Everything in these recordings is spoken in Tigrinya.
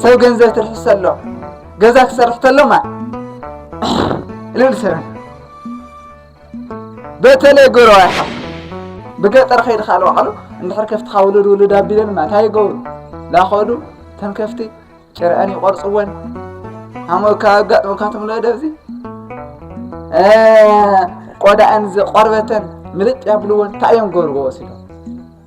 ሰብ ገንዘብ ትርፊ ሰሎ ገዛ ክሰርሕ ተሎማ ልብል ሰረ በተለይ ጎረዋ ይሓፍ ብገጠር ከይድ ካል ዋዕሉ እንድሕር ከፍትኻ ውሉድ ውሉድ ኣቢለን ማ እንታይ ይገብሩ ላኸዱ ተን ከፍቲ ጭርዐን ይቆርፅወን ኣሞካ ኣጋጥሞካትም ሎ ደብዚ ቆዳኣን ቆርበተን ምልጥ ያብልዎን እንታይ እዮም ገብርዎ ወሲዶም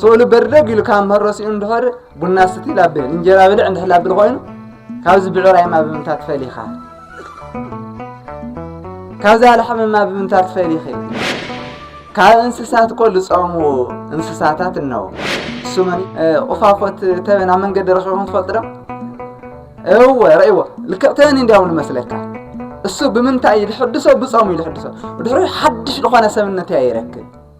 ስእሉ በርደግ ኢሉ ካብ ምህሮ ስኢኑ እንድኸር ቡና ስቲ ላብል እንጀራ ብልዕ እንድሕር ላብል ኮይኑ ካብዚ ብዕራይ ማ ብምንታ ትፈሊኻ ካብዚ ኣልሓሚ ማ ብምንታ ትፈሊኺ ካብ እንስሳት እኮ ዝፀሙ እንስሳታት እነው እሱመን ቁፋፎት ተበን ኣብ መንገዲ ረኪቦም ትፈልጡ ዶ እወ ረእይዎ ልክዕ ተበን እንዲያው ንመስለካ እሱ ብምንታይ እዩ ዝሕድሶ ብፀሙ እዩ ዝሕድሶ ድሕሪ ሓድሽ ዝኾነ ሰብነት እያ ይረክብ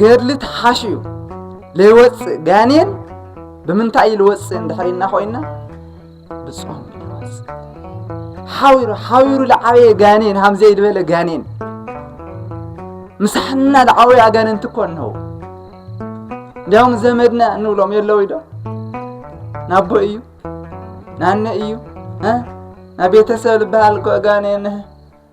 ገድሊ ተሓሽዩ ለይወፅእ ጋኔን ብምንታይ እዩ ልወፅእ እንድሕር ኢልና ኮይና ብፆም ይወፅእ ሓዊሩ ሓዊሩ ልዓበየ ጋኔን ሃም ዘይድበለ ጋኔን ምሳሕና ልዓበዩ ኣጋንንቲ እኮ እንሆው እንዲያውም ዘመድና እንብሎም የለው ኢዶ ናቦ እዩ ናነ እዩ እ ናብ ቤተሰብ ልበሃል እኮ ጋኔን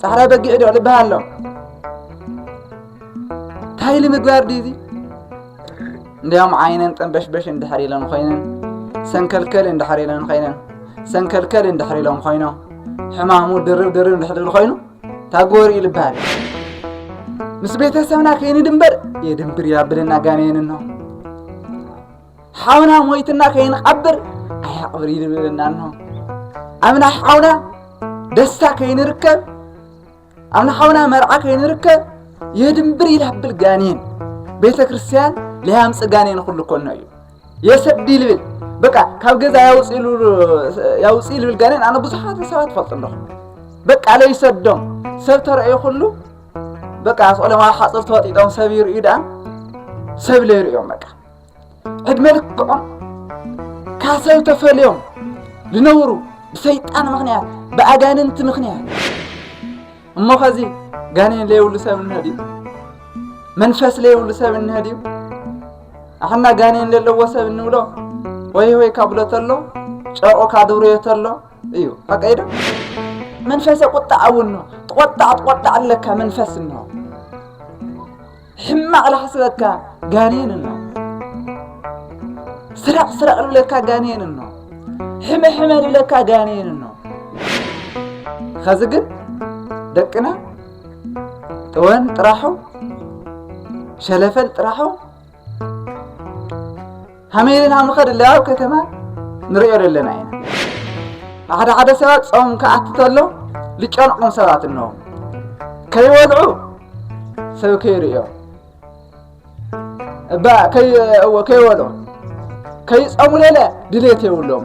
ጻዕዳ በጊዕ ዶ ልብሃ ኣሎ እንታይ ኢሊ ምግባር ድዩ እዚ እንዲያውም ዓይነን ጠንበሽበሽ እንድሕር ኢለን ኮይነን ሰንከልከል እንድሕር ኢለን ኮይነን ሰንከልከል እንድሕር ኢሎም ኮይኖም ሕማሙ ድርብ ድርብ እንድሕር ኢሉ ኮይኑ ታጎሪ እዩ ልብሃል ምስ ቤተሰብና ከይንድንበር የድንብር ያብልና ጋኔንን ነው ሓውና ሞይትና ከይንቐብር ኣያቕብር ይድብለና ኣሎ ኣብና ሓውና ደስታ ከይንርከብ ኣብና ሓውና መርዓ ከይንርከብ የድንብር ይላብል ጋኔን ቤተ ክርስቲያን ለያምፅ ጋኔን ኩሉ ኮኖ እዩ የሰዲ ይልብል በቃ ካብ ገዛ ያውፅ ይልብል ጋኔን ኣነ ብዙሓት ሰባት ፈልጡ ኣለኹ በቃ ለይሰዶም ሰብ ተረእዩ ኩሉ በቃ ስቆሎም ኣብ ሓፅር ተወጢጦም ሰብ ይርእዩ ደኣ ሰብ ለይርእዮም በቃ ዕድመ ልክዖም ካሰብ ተፈልዮም ዝነብሩ ብሰይጣን ምክንያት ብኣጋንንቲ ምክንያት እሞ ከዚ ጋኔን ለየብሉ ሰብ እንሀ ድዩ መንፈስ ለየብሉ ሰብ እንሀ ድዩ ኣሕና ጋኔን ዘለዎ ሰብ እንብሎ ወይ ወይ ካብሎ ተሎ ጨርቁ ካድብርዮ ተሎ እዩ ኣቀይዶ መንፈሰ ቁጣዕ እውን ተቆጣዕ ተቆጣዕ ኣለካ መንፈስ እንሆ ሕማቕ ላሕስበካ ጋኔን እኖ ስረቕ ስረቕ ልብለካ ጋኔን እኖ ሕመ ሕመ ልብለካ ጋኔን እኖ ኸዚ ግን ደቅና ጥወን ጥራሑ ሸለፈል ጥራሑ ሃመይ ኢልና ንኸድለ ኣብ ከተማ ንሪኦ ዘለና ኢና ሓደ ሓደ ሰባት ጾም ክኣቲ ተሎ ዝጨንቆም ሰባት እነሆ ከይወልዑ ሰብ ከይርእዮ እባ እዎ ከይወልዑ ከይጸሙ ለለ ድሌት የብሎም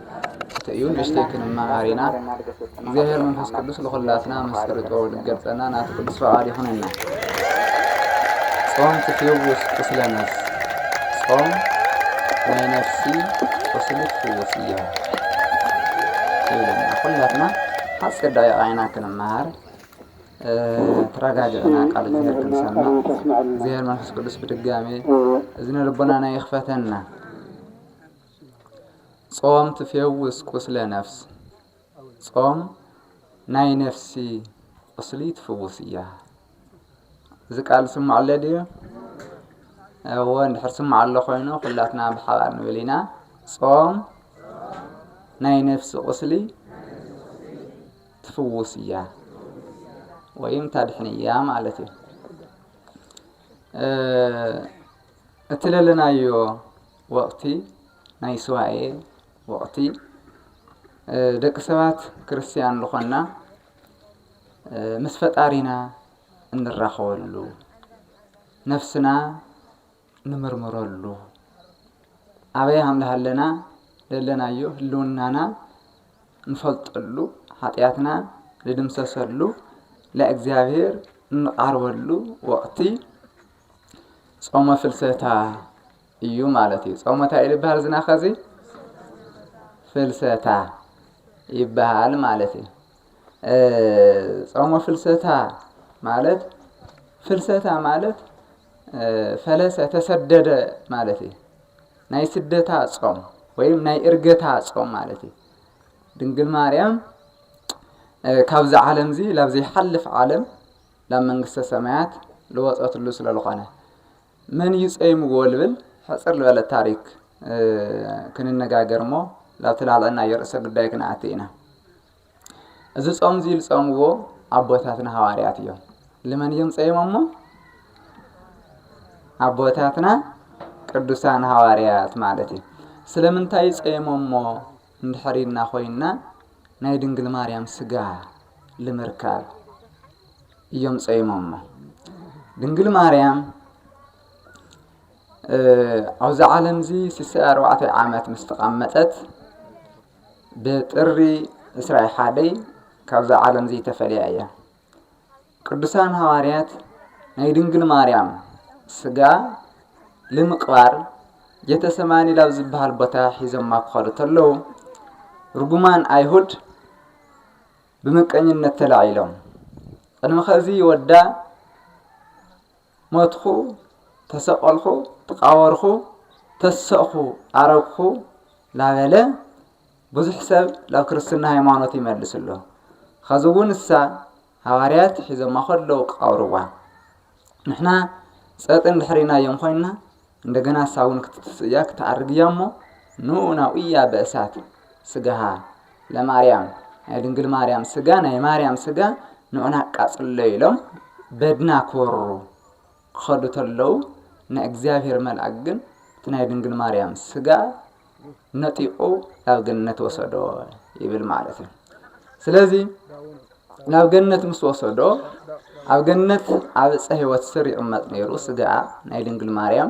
ትሕቲ እዩ ንእሽተይ ክንመሃር ኢና። እግዚኣብሔር መንፈስ ቅዱስ ልኹላትና መሰሉ ጥበቡ ልገልጸና ናቱ ቅዱስ ፈቃድ ይኹነና። ጾም ትፍውስ ቁስለ ነፍስ ጾም ናይ ነፍሲ ቁስሊ ትፍውስ እያ ይብለና። ኩላትና ሓፂር ደቂቃ ኢና ክንመሃር ተረጋጊዕና ቃል እግዚኣብሔር ክንሰምዕ እግዚኣብሔር መንፈስ ቅዱስ ብድጋሜ እዝነ ልቦናና ይኽፈተና። ጾም ትፌውስ ቁስለ ነፍስ ጾም ናይ ነፍሲ ቁስሊ ትፍውስ እያ። እዚ ቃል ዝስማዕ ኣሎ ድዩ? እወ እንድሕር ስማዕ ኣሎ ኮይኑ ኩላትና ብሓባር ንብል ኢና። ጾም ናይ ነፍሲ ቁስሊ ትፍውስ እያ ወይም ታድሕን እያ ማለት እዩ። እቲ ለለናዮ ወቕቲ ናይ ሱባኤ ወቕቲ ደቂ ሰባት ክርስትያን ዝኾንና ምስ ፈጣሪና እንራኸበሉ ነፍስና ንምርምረሉ ኣበይ ሃምልሃለና ደለናዮ ህልውናና ንፈልጠሉ ሓጢኣትና ንድምሰሰሉ ለእግዚኣብሔር እንቓርበሉ ወቕቲ ጾመ ፍልሰታ እዩ ማለት እዩ። ጾመ እንታይ እዩ ዝበሃል ዝና ኸዚ ፍልሰታ ይበሃል ማለት እዩ። ጾመ ፍልሰታ ማለት ፍልሰታ ማለት ፈለሰ ተሰደደ ማለት እዩ። ናይ ስደታ ጾም ወይም ናይ እርገታ ጾም ማለት እዩ። ድንግል ማርያም ካብዚ ዓለም እዚ ላብዘይ ሓልፍ ዓለም ናብ መንግስተ ሰማያት ልወጸትሉ ስለልኾነ መን እዩ ጸይምዎ ልብል ሕጽር ልበለት ታሪክ ክንነጋገር እሞ ላብቲ ላልዕናዮ ርእሰ ጉዳይ ክንኣቲ ኢና። እዚ ጾም እዚ ልጸምዎ ኣቦታትና ሃዋርያት እዮም። ልመን እዮም ጸይሞሞ? ኣቦታትና ቅዱሳን ሃዋርያት ማለት እዩ። ስለምንታይ ጸይሞሞ? እንድሕር ኢልና ኮይንና ናይ ድንግል ማርያም ስጋ ልምርካብ እዮም ጸይሞሞ ድንግል ማርያም ኣብዚ ዓለም እዚ ስሰ ኣርባዕተ ዓመት ምስ ተቐመጠት ብጥሪ ዕስራ ሓደይ ካብዛ ዓለም እዚ ተፈልያ እያ ቅዱሳን ሃዋርያት ናይ ድንግል ማርያም ስጋ ልምቕባር ጌተሰማኒ ላብ ዝበሃል ቦታ ሒዞማ ክኸዱ ተለዉ ርጉማን ኣይሁድ ብምቀኝነት ተላዒሎም ቅድሚ ኸዚ ወዳ ሞትኩ ተሰቐልኩ ተቓበርኩ ተሰእኩ ኣረግኩ ላበለ ብዙሕ ሰብ ናብ ክርስትና ሃይማኖት ይመልስ ኣሎ ኸዚ እውን እሳ ሃዋርያት ሒዘማ ከለዉ ቃብርዋ ንሕና ጸጥ እንድሕሪናዮም ኮይንና እንደገና እሳ እውን ክትትስእ እያ፣ ክትኣርግ እያ እሞ ንኡ ናኡያ በእሳት ስጋሃ ለማርያም ናይ ድንግል ማርያም ስጋ ናይ ማርያም ስጋ ንኡና ኣቃጽሎ ኢሎም በድና ክወሩ ክኸዱ ተለዉ ናይ እግዚኣብሔር መልኣክ ግን እቲ ናይ ድንግል ማርያም ስጋ ነጢቑ ናብ ገነት ወሰዶ ይብል ማለት እዩ ስለዚ ናብ ገነት ምስ ወሰዶ ኣብ ገነት ኣብ ዕፀ ህይወት ስር ይቕመጥ ነይሩ ስጋኣ ናይ ድንግል ማርያም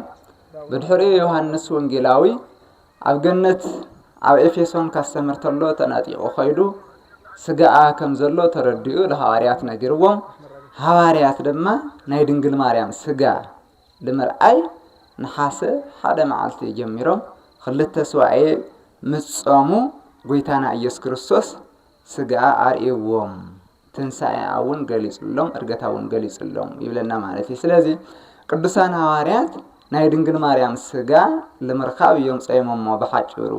ብድሕሪኡ ዮሃንስ ወንጌላዊ ኣብ ገነት ኣብ ኤፌሶን ካስተምር ተሎ ተነጢቑ ኸይዱ ስጋኣ ከም ዘሎ ተረዲኡ ንሃዋርያት ነጊርዎም ሃዋርያት ድማ ናይ ድንግል ማርያም ስጋ ብምርኣይ ነሓሰ ሓደ መዓልቲ ጀሚሮም ኽልተ ሱባኤ ምስ ጾሙ ጐይታና ኢየሱስ ክርስቶስ ሥግኣ ኣርእይዎም ትንሣኤኣ እውን ገሊጹሎም እርገታ እውን ገሊጹሎም ይብለና ማለት እዩ ስለዚ ቅዱሳን ሃዋርያት ናይ ድንግል ማርያም ሥጋ ልምርካብ እዮም ጸይሞሞ ብሓጭሩ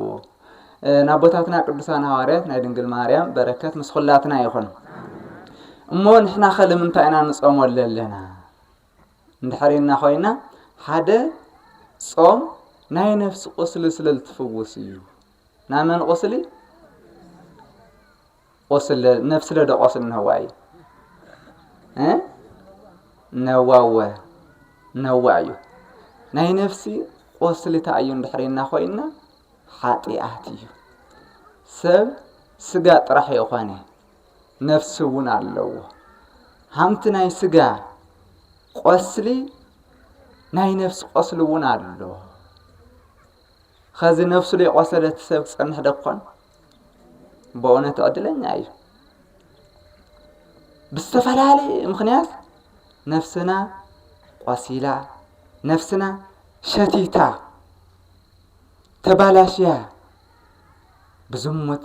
ናቦታትና ቅዱሳን ሃዋርያት ናይ ድንግል ማርያም በረከት ምስ ኹላትና ይኹን እሞ ንሕና ኸልምንታይ ኢና ንጾሞ ኣለና እንድሕር ኢልና ኮይና ሓደ ጾም ናይ ነፍሲ ቁስሊ ስለ ዝትፍውስ እዩ ናይ መን ቁስሊ ቁስሊ ነፍሲ ለዶ ቁስሊ ነዋ እዩ ነዋወ ነዋ እዩ ናይ ነፍሲ ቁስሊ እንታይ እዩ እንድሕር ኢልና ኮይና ሓጢኣት እዩ ሰብ ስጋ ጥራሕ የኾነ ነፍሲ እውን ኣለዎ። ሃምቲ ናይ ስጋ ቆስሊ ናይ ነፍሲ ቆስሊ እውን ኣሎ። ከዚ ነፍሱ ለይቆሰለት ሰብ ትጸንሕ ደኮን? በእውነት ዕድለኛ እዩ። ብዝተፈላለየ ምክንያት ነፍስና ቆሲላ፣ ነፍስና ሸቲታ፣ ተባላሽያ ብዝሙት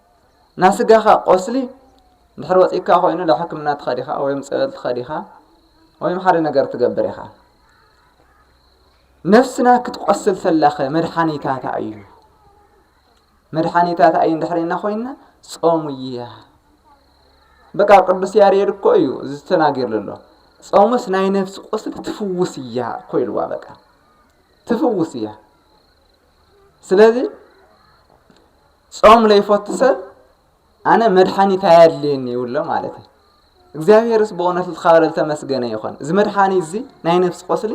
ናይ ስጋኻ ቆስሊ እንድሕር ወጺእካ ኮይኑ ናብ ሕክምና ትኸድ ኢኻ ወይም ጸበል ትኸድ ኢኻ ወይም ሓደ ነገር ትገብር ኢኻ ነፍስና ክትቆስል ተላኸ መድሓኒታታ እዩ መድሓኒታታ እዩ እንድሕርና ኮይና ጾሙ እያ በቃ ቅዱስ ያሬድ እኮ እዩ እዚ ተናጊርሉ ኣሎ ጾሙስ ናይ ነፍሲ ቁስሊ ትፍውስ እያ እኮ ኢልዋ በቃ ትፍውስ እያ ስለዚ ጾም ለይፈቱ ሰብ ኣነ መድሓኒት ኣየድልየኒ ይብሎ ማለት እዩ እግዚኣብሔርስ ብእውነት ልትኻበለ ልተመስገነ ይኾን እዚ መድሓኒት እዚ ናይ ነፍሲ ቆስሊ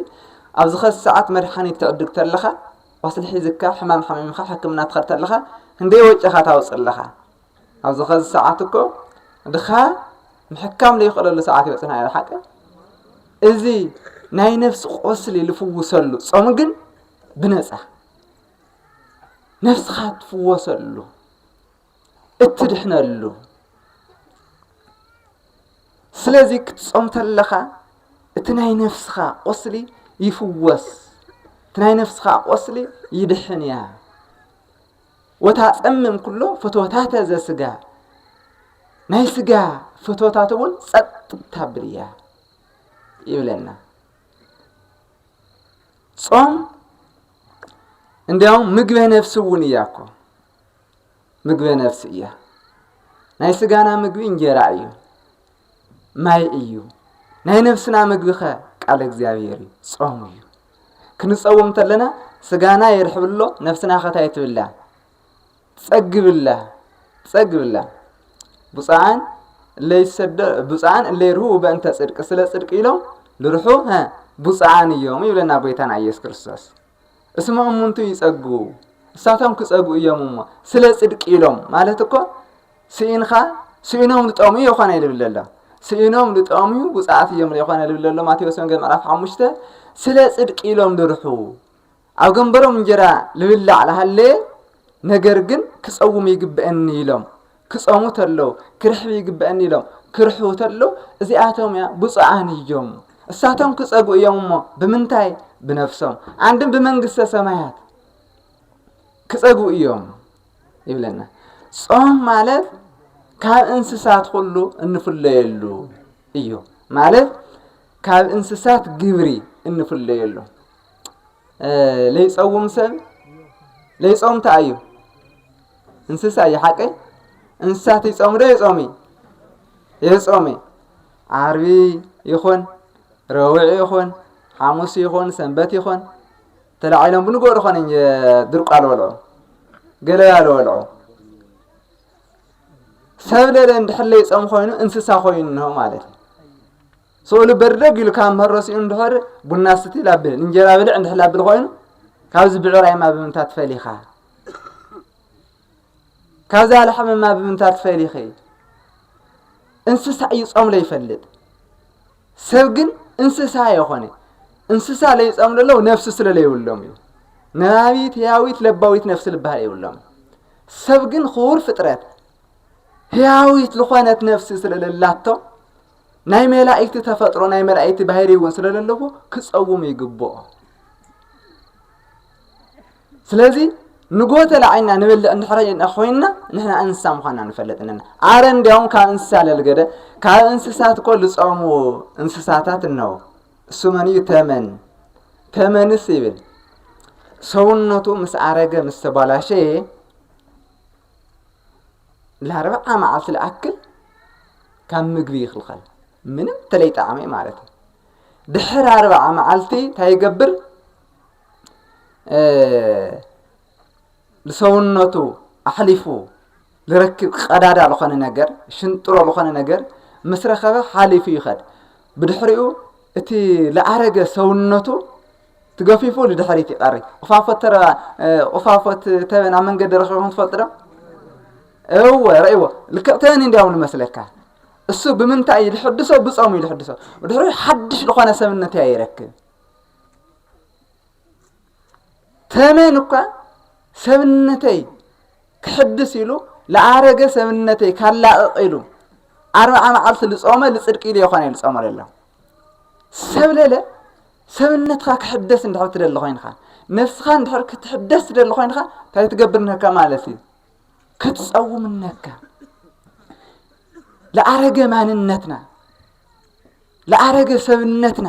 ኣብ ዝኸስ ሰዓት መድሓኒት ትዕድግ ተለኻ ቆስሊ ሒዝካ ሕማም ሓሚምካ ሕክምና ትኸድ ተለኻ ክንደይ ወጪኻ ታውፅ ኣለኻ ኣብ ዝኸዚ ሰዓት እኮ ድኻ ምሕካም ዘይኽእለሉ ሰዓት ይበፅና ኢለ ሓቂ እዚ ናይ ነፍሲ ቆስሊ ልፍውሰሉ ጾም ግን ብነፃ ነፍስኻ እትፍወሰሉ እትድሕነሉ ስለዚ ክትጾም ተለኻ እቲ ናይ ነፍስኻ ቁስሊ ይፍወስ እቲ ናይ ነፍስኻ ቁስሊ ይድሕን እያ ወታ ጸምም ኩሎ ፍትወታተ ዘስጋ ናይ ስጋ ፍትወታት እውን ጸጥ ታብል እያ ይብለና ጾም እንዲያውም ምግበ ነፍሲ እውን እያ እኮ ምግበ ነፍሲ እያ ናይ ስጋና ምግቢ እንጀራ እዩ ማይ እዩ ናይ ነፍስና ምግቢ ኸ ቃል እግዚኣብሔር እዩ ጾም እዩ ክንጸውም ተለና ስጋና የርሕብሎ ነፍስና ኸታይ ትብላ ጸግብላ ጸግብላ ብፁዓን እለይሰደው ብፁዓን እለይርህው በእንተ ጽድቅ ስለ ጽድቅ ኢሎም ልርሑ ብፁዓን እዮም ይብለና ጎይታና ኢየሱስ ክርስቶስ። እስመ እሙንቱ ይጸግቡ እሳቶም ክጸግቡ እዮም እሞ ስለ ጽድቅ ኢሎም ማለት እኮ ስኢንኻ ስኢኖም ልጠሙ የኾነ ይብል ኣሎ ስኢኖም ልጠሙ ብፁዓት እዮም የኾነ ልብል ኣሎ ማቴዎስ ወንጌል ምዕራፍ ሓሙሽተ ስለ ጽድቅ ኢሎም ልርሑ ኣብ ገንበሮም እንጀራ ልብላዕ ልሃለየ ነገር ግን ክጸውም ይግበእኒ ኢሎም ክጸሙ ተለው ክርሕብ ይግበእኒ ኢሎም ክርሕቡ ተለው እዚኣቶም እያ ብፁዓን እዩም እሳቶም ክጸጉ እዮም እሞ ብምንታይ ብነፍሶም ኣንድም ብመንግስተ ሰማያት ክጸጉ እዮም ይብለና ጾም ማለት ካብ እንስሳት ኩሉ እንፍለየሉ እዩ ማለት ካብ እንስሳት ግብሪ እንፍለየሉ ለይፀውም ሰብ ለይፆም እንታይ እዩ እንስሳ እዩ ሓቀይ እንስሳት ይፆም ዶ የፆሚ የፆሚ ዓርቢ ይኹን ረውዒ ይኹን ሓሙስ ይኹን ሰንበት ይኹን ተላዒሎም ብንገሩ ኾነ ድርቋ ልበልዑ ገለባ ልበልዑ ሰብ ለለ እንድሕር ለይፆም ኮይኑ እንስሳ ኮይኑ እንሆ ማለት እዩ ሰኡሉ በርደግ ኢሉ ካብ ምህሮ ሲኡ እንድሕር ቡና ስቲ ላብል እንጀራ ብልዕ እንድሕር ላብል ኮይኑ ካብዚ ብዕራይማ ብምንታ ትፈሊኻ ካብዛ ላሕምማ ብምንታ ትፈሊኺ እንስሳ እዩ ጾም ለይፈልጥ ሰብ ግን እንስሳ የኾነ እንስሳ ለይጸም ለለው ነፍሲ ስለ ለይብሎም እዩ ነባቢት ህያዊት ለባዊት ነፍሲ ልበሃል የብሎም ሰብ ግን ክቡር ፍጥረት ህያዊት ዝኾነት ነፍሲ ስለለላቶ ናይ መላእክቲ ተፈጥሮ ናይ መላእክቲ ባህሪ እውን ስለ ዘለዎ ክፀውሙ ይግብኦ ስለዚ ንጎተ ላዕልና ንበልዕ እንድሕረ ኮይና ንሕና እንስሳ ምዃና ንፈለጥ ኣለና ኣረ እንዲያውም ካብ እንስሳ ለልገደ ካብ እንስሳት እኮ ዝፀሙ እንስሳታት እነው እሱ መን እዩ ተመን ተመንስ ይብል ሰውነቱ ምስ ኣረገ ምስ ተባላሸየ ለርብዓ መዓልቲ ልኣክል ካብ ምግቢ ይኽልኸል ምንም ተለይጣዕሚ ማለት እዩ ድሕር ኣርብዓ መዓልቲ እንታይ ይገብር ንሰውነቱ ኣሕሊፉ ዝረክብ ቀዳዳ ዝኾነ ነገር ሽንጥሮ ዝኾነ ነገር ምስ ረኸበ ሓሊፉ ይኸድ ብድሕሪኡ እቲ ለኣረገ ሰውነቱ ትገፊፉ ንድሕሪት ይቀሪ ቁፋፎት ተረባ ቁፋፎት ተበን ኣብ መንገዲ ረኺብኩም ትፈልጡ ዶ እወ ረእዎ ልክዕ ተበን እንዲያውም ንመስለካ እሱ ብምንታይ እዩ ዝሕድሶ ብጾም እዩ ዝሕድሶ ድሕሪ ሓድሽ ዝኾነ ሰብነት እያ ይረክብ ተመን እኳ ሰብነተይ ክሕድስ ኢሉ ለኣረገ ሰብነተይ ካላቕቕ ኢሉ ኣርብዓ መዓልቲ ልጾመ ልጽድቂ ኢሉ የኾነ እዩ ልጾመ ለሎ ሰብ ለለ ሰብነትካ ክሕደስ እንድሕር ትደሊ ኮይንካ ነፍስካ እንድሕር ክትሕደስ ትደሊ ኮይንካ እንታይ ትገብር ነካ ማለት እዩ ክትፀውም ነካ ለኣረገ ማንነትና ለኣረገ ሰብነትና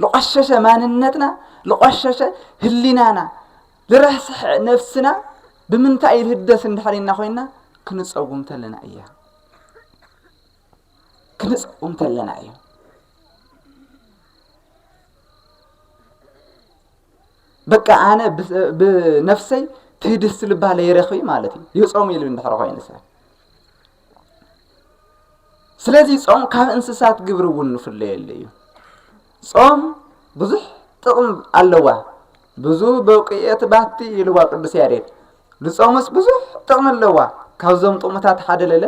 ለቆሸሸ ማንነትና ለቆሸሸ ህሊናና ልረስሐ ነፍስና ብምንታይ ልህደስ እንድሕር ኢና ኮይና ክንፀውም ተለና እያ ክንፅኦም ተለና እዩ። በቃ ኣነ ብነፍሰይ ትህድስ ልባ ለይረኺ ማለት እዩ ይጾም ኢሉ እንድሕር ኮይኑ ሰብ ስለዚ ጾም ካብ እንስሳት ግብሪ እውን ንፍለየሉ እዩ ጾም ብዙሕ ጥቕም ኣለዋ ብዙ በውቅኤት ባቲ ይልዋ ቅዱስ ያሬድ ንጾምስ ብዙሕ ጥቕሚ ኣለዋ ካብዞም ጥቕምታት ሓደ ለለ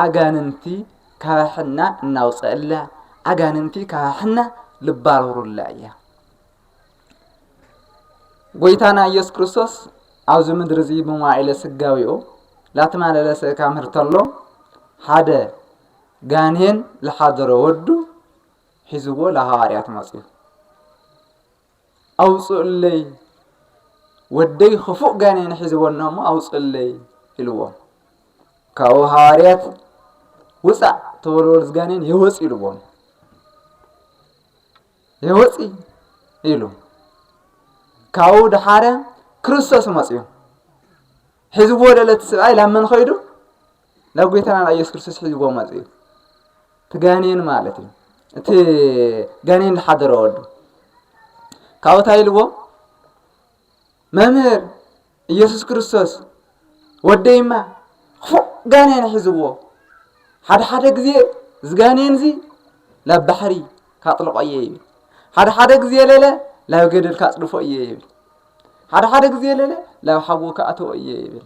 ኣጋንንቲ ካባሕና እናውፀእላ ኣጋንንቲ ካባሕና ልባርሩላ እያ ጎይታና ኢየሱስ ክርስቶስ ኣብዚ ምድሪ እዚ ብመዋዒለ ስጋዊኡ ላተማለለሰ ካምህር ተሎ ሓደ ጋኔን ዝሓደሮ ወዱ ሒዝዎ ላሃዋርያት መጽዩ ኣውጽኡለይ ወደይ ኽፉእ ጋኔን ሒዝዎ ኣሎ እሞ ኣውጽኡለይ ኢልዎም ካብኡ ሃዋርያት ውፃእ ተወልወል ዝጋኔን የወፅ ኢልዎም የወፅ ኢሉ ካብኡ ድሓረ ክርስቶስ መፅዩ ሒዝዎ ለለ እቲ ስብኣይ ላብ መን ኸይዱ ናብ ጎይታና ናብ ኢየሱስ ክርስቶስ ሒዝዎ መጽኡ እቲ ጋኔን ማለት እዩ እቲ ጋኔን ዝሓደረ ወዱ ካብኡ እንታይ ኢልዎ መምህር ኢየሱስ ክርስቶስ ወደይማ ክፉእ ጋኔን ሒዝዎ ሓደ ሓደ ግዜ እዚ ጋኔን እዚ ናብ ባሕሪ ካጥልቆ እየ ይብል ሓደ ሓደ ግዜ ለለ ናብ ገደል ካጽድፎ እየ ይብል ሓደ ሓደ ግዜ ለለ ናብ ሓዊ ካእትዎ እየ ይብል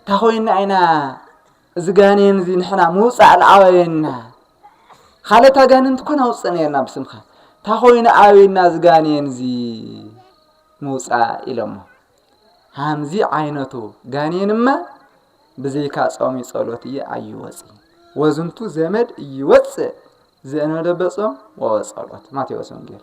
እንታይ ኮይና ኢና እዚ ጋኔን እዚ ንሕና ምውፃእ ልኣበየና ካልኦት ኣጋንንቲ ኮን ኣውፅእ ነርና ብስምካ እንታይ ኮይኑ ኣበየና እዚ ጋኔን እዚ ምውፃእ ኢሎሞ ሃምዚ ዓይነቱ ጋኔንማ ብዘይካ ጾም ጸሎት እየ ኣይወፅ ወዝንቱ ዘመድ እይወፅእ ዘእነደበጾም ወወጸሎት ማቴዎስ ወንጌል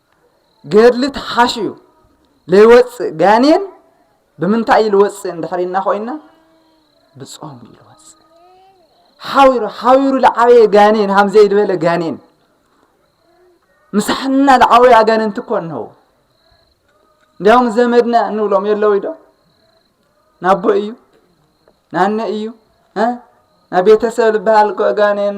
ገድሊ ተሓሽዩ ለይወፅእ ጋኔን ብምንታይ እዩ ልወፅእ እንድሕር ኢልና ኮይና ብጾም እዩ ልወፅእ ሓዊሩ ሓዊሩ ልዓበየ ጋኔን ሃምዘይ ዝበለ ጋኔን ምሳሕና ልዓበዩ ኣጋንንቲ እኮ እንሆው እንዲያውም ዘመድና እንብሎም የለው ዶ ናቦ እዩ ናነ እዩ ናብ ቤተሰብ ልበሃል እኮ ጋኔን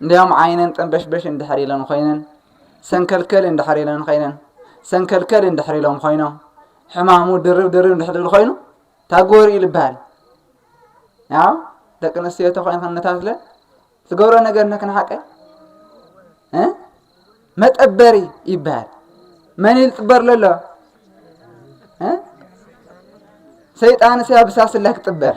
እንዲያውም ዓይነን ጠንበሽበሽ እንድሕር ኢለን ኮይነን ሰንከልከል እንድሕር ኢለን ኮይነን ሰንከልከል እንድሕር ኢሎም ኮይኖም ሕማሙ ድርብ ድርብ እንድሕር ኢሉ ኮይኑ ታጎሪ ኢሉ ይበሃል ያው ደቂ ኣንስትዮ ተኮይን ክንታስለ ዝገብሮ ነገር ንክንሓቀ እ? መጠበሪ ይበሃል መን ኢሉ ጥበር ለሎ እ? ሰይጣንስ ያብሳስላ ክጥበር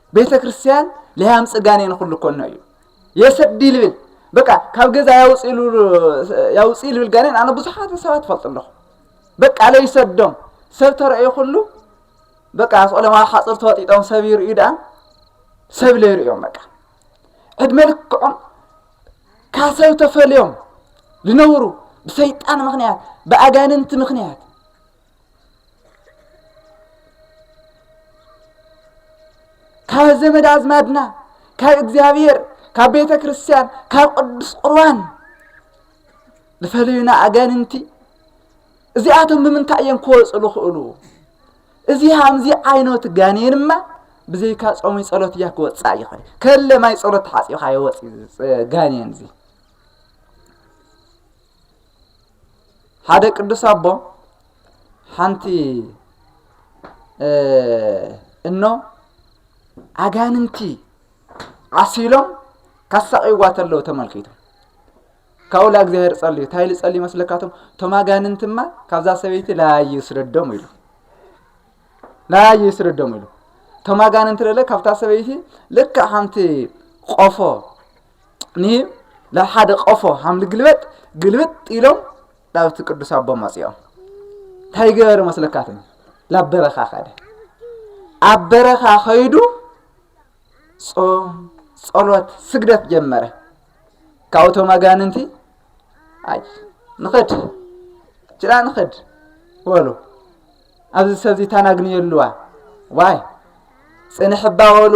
ቤተ ክርስቲያን ለያም ጽጋኔ ንኹሉ ኮኖ እዩ የሰዲ ልብል በቃ ካብ ገዛ ያውፅ ልብል ጋኔን ኣነ ብዙሓት ሰባት ፈልጡ ኣለኹ በቃ ለይሰዶም ሰብ ተረእዩ ኩሉ በቃ ስቆሎም ኣብ ሓፅር ተወጢጦም ሰብ ይርእዩ ደኣ ሰብ ለይርእዮም በቃ ዕድመ ልክዖም ካብ ሰብ ተፈልዮም ዝነብሩ ብሰይጣን ምክንያት ብኣጋንንቲ ምክንያት ካብ ዘመድ ኣዝማድና ካብ እግዚኣብሔር ካብ ቤተ ክርስቲያን ካብ ቅዱስ ቁርባን ዝፈለዩና ኣጋንንቲ እዚኣቶም ብምንታይ እዮም ክወፁ ዝኽእሉ እዚ ሃምዚ ዓይነት ጋኔንማ ብዘይካ ጾሚ ጸሎት እያ ክወፅእ ይኽእል ከለ ማይ ጸሎት ተሓፂብካ ይወፅ ጋኔን እዚ ሓደ ቅዱስ ኣቦ ሓንቲ እኖ ኣጋንንቲ ዓሲሎም ካሳቂዋ ተለዉ ተመልኪቱ ካብኡ እግዚኣብሔር ጸልዩ እንታይ ኢሉ ጸልዩ መስለካቶም እቶም ኣጋንንትማ ካብዛ ሰበይቲ ላዩ ይስደዶም ኢሉ ላዩ ይስደዶም ኢሉ እቶም ኣጋንንቲ ለለ ካብታ ሰበይቲ ልክዕ ሓንቲ ቆፎ ንሂብ ናብ ሓደ ቆፎ ሃም ልግልበጥ ግልብጥ ኢሎም ናብቲ ቅዱስ ኣቦ መፅኦም እንታይ ገበረ መስለካት ናብ በረኻ ከደ ኣብ በረኻ ከይዱ ጾም ጸሎት ስግደት ጀመረ ካብኡቶም ኣጋንንቲ ኣይ ንኸድ ጭራ ንኸድ በሉ ኣብዚ ሰብዚ ታናግንየሉዋ ዋይ ፅንሕ ባበሉ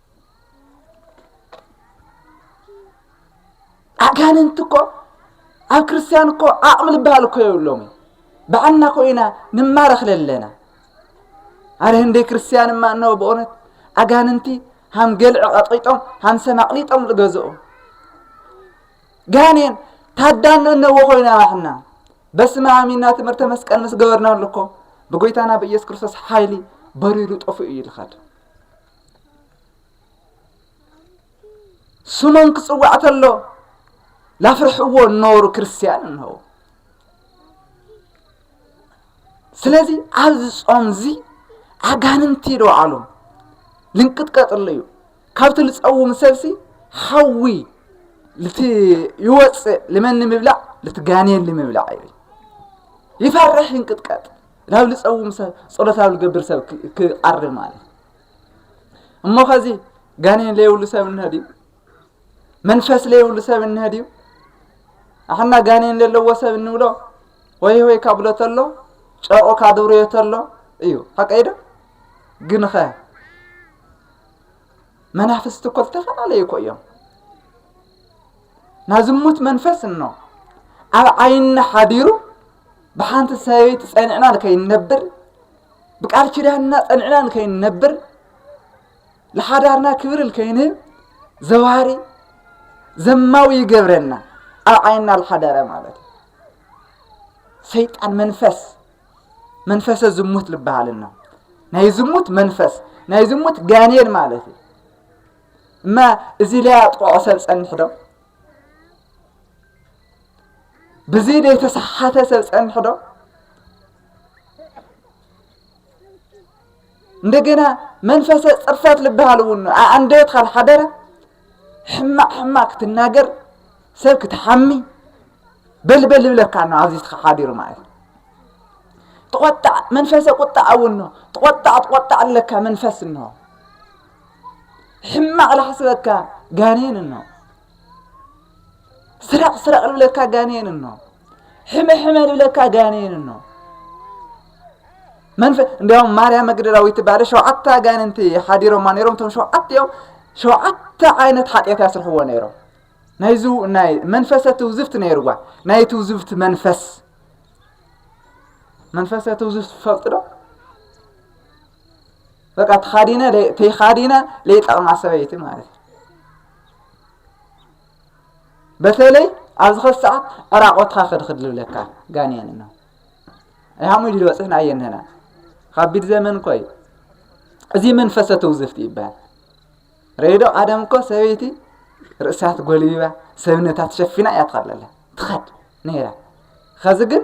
ኣጋንንቲ እኮ ኣብ ክርስትያን እኮ ዓቕሚ ዝበሃል እኮ የብሎምን ባዕልና እኮ ኢና ንማረኽ ለለና ኣረ ህንደይ ክርስትያን እማ እነሆ ብእውነት ኣጋንንቲ ሃም ገልዕ ቐጢጦም ሃም ሰም ኣቕሊጦም ዝገዝኡ ጋኔን ታዳን እነዎ ኮይና ባሕና በስመ አብ ኢና ትምህርተ መስቀል ምስ ገበርናሉ እኮ ብጎይታና ብኢየሱስ ክርስቶስ ሓይሊ በሪሩ ጠፍኡ እዩ ልኸድ ስሞም ክጽዋዕ ተሎ ላፍርሕዎ እነበሩ ክርስትያን እንሆ ስለዚ ኣብዚ ጾም እዚ ኣጋንንቲ ዶ ዓሎም ልንቅጥቀጥሉ እዩ ካብቲ ልፀውም ሰብሲ ሓዊ ልቲ ይወፅእ ልመን ንምብላዕ ልትጋኔን ንምብላዕ እዩ ይፈርሕ ይንቅጥቀጥ ናብ ልፀውም ሰብ ፀሎት ኣብ ልገብር ሰብ ክቐርብ ማለት እዩ እሞ ከዚ ጋኔን ለየብሉ ሰብ እንሀ ድዩ መንፈስ ለየብሉ ሰብ እንሀ ድዩ ኣሕና ጋኔን ዘለዎ ሰብ እንብሎ ወይ ወይ ካብ ብሎ ተሎ ጨርቑ ካብ ድብርዮ ተሎ እዩ ሓቀይ ዶ ግን ኸ መናፍስቲ እኮ ዝተፈላለዩ እኮ እዮም ናብ ዝሙት መንፈስ እኖ ኣብ ዓይኒ ሓዲሩ ብሓንቲ ሰበይቲ ጸኒዕና ንከይንነብር ብቃል ኪዳንና ጸኒዕና ንከይንነብር ንሓዳርና ክብሪ ንከይንህብ ዘዋሪ ዘማዊ ይገብረና ኣብ ዓይንና ዝሓደረ ማለት እዩ ሰይጣን መንፈስ መንፈሰ ዝሙት ዝበሃልና ናይ ዝሙት መንፈስ ናይ ዝሙት ጋኔን ማለት እዩ እማ እዚ ለያ ጥቕዖ ሰብ ጸንሕ ዶ ብዘይ ዘይተሰሓተ ሰብ ጸንሑ ዶ እንደገና መንፈሰ ጽርፈት ልበሃል እውን ኣንደበት ካብ ሓደረ ሕማቅ ሕማቅ ክትናገር ሰብ ክትሓሚ በልበል ይብለካ ኖ ኣብዚ ሓዲሩ ማለት እዩ ትቆጣዕ መንፈሰ ቁጣዕ እውን ኖ ትቆጣዕ ትቆጣዕ ኣለካ መንፈስ እንሆ ሕማቅ ላሕስበካ ጋኔን እኖ ስረቅ ስረቅ ልብለካ ጋኔን እኖ ሕመ ሕመ ልብለካ ጋኔን እኖ መንፈ እንዲያውም ማርያም መግደላዊት ትበሃለ ሸውዓተ ኣጋንንቲ ሓዲሮማ ነይሮም እቶም ሸውዓተ እዮም ሸውዓተ ዓይነት ሓጢኣት ያስርሕዎ ነይሮም ናይዚ ናይ መንፈሰ ትውዝፍቲ ነይርዋ ናይ ትውዝፍቲ መንፈስ መንፈሰ ትውዝፍቲ ትፈልጡ ዶ በቃ ተኻዲነ ተይኻዲነ ለይጠቕማ ሰበይቲ ማለት እዩ በተለይ ኣብዚ ኸዚ ሰዓት ዕራቆትኻ ክድኽድ ዝብለካ ጋንየን ነው ይሃሙ ኢሉ ዝበፅሕና እየን ንህና ከቢድ ዘመን እኮ እዩ እዚ መንፈሰ ትውዝፍቲ ይበሃል ሬዶ ቀደም እኮ ሰበይቲ ርእሳ ትጎልቢባ ሰብነታ ትሸፊና እያ ትኸድ ኣላ ትኸድ ነይራ ኸዚ ግን